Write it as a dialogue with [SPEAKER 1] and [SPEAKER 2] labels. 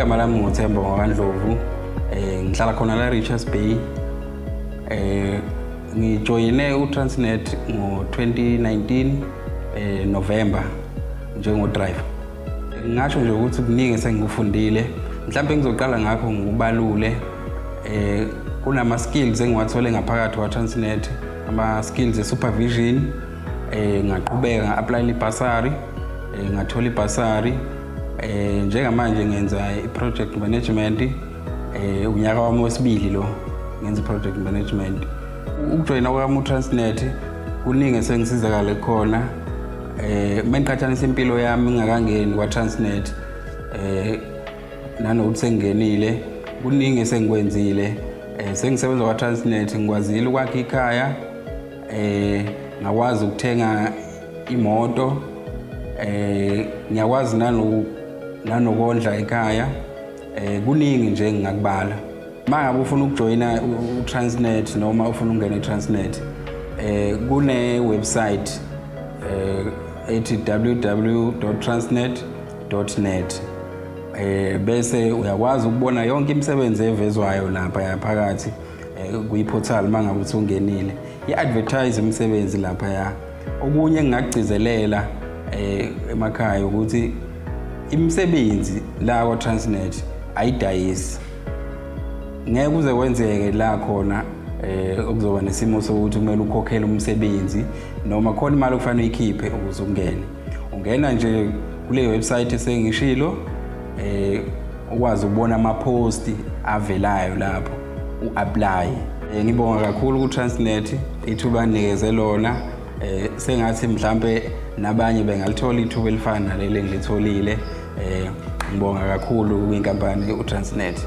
[SPEAKER 1] igama lami nguthemba wakandlovu um eh, ngihlala khona la richards bay um ngijoyine utransnet ngo-2019 um eh, november njengodriver Ngingasho nje ukuthi kuningi esengikufundile mhlawumbe engizoqala ngakho ngikubalule eh kunama-skills engiwathole ngaphakathi kwa-transnet ama-skills e-supervision eh ngaqhubeka nga-aplayela ibhasari eh, ngathola ibhasari eh njengamanje ngenza i-project management eh unyaka wami wesibili lo ngenza i-project management ukujoyina kwami u-transnet kuningi esengisizakale khona Eh uma ngiqhathanisa impilo yami ngingakangeni kwa Transnet eh nanokuthi sengingenile kuningi esengikwenzile eh sengisebenza kwa Transnet ngikwazile ukwakha ikhaya eh ngakwazi ukuthenga imoto eh ngiyakwazi nanu nanokondla ekhaya Eh kuningi nje ngingakubala. Mangabe ufuna ukujoyina uTransnet noma ufuna ukungena eTransnet eh kune website eh ethi www.transnet.net eh bese uyakwazi ukubona yonke imisebenzi evezwayo lapha yaphakathi eh, kuyiportal mangabe usungenile i-advertise imisebenzi lapha ya Okunye engingakugcizelela eh emakhaya ukuthi imisebenzi la kwa Transnet ayidayisi. Ngeke uze kwenzeke la khona eh okuzoba nesimo sokuthi kumele ukhokhele umsebenzi noma khona imali okufanele uyikhiphe ukuze ungene ungena nje kule website esengishilo eh ukwazi ukubona amaphosti avelayo lapho u-aplaye eh, ngibonga kakhulu ku-transnet ithuba anikeze lona eh, sengathi mhlampe nabanye bengalithola ithuba elifana naleli engilitholile eh, ngibonga kakhulu kwinkampani u-transnet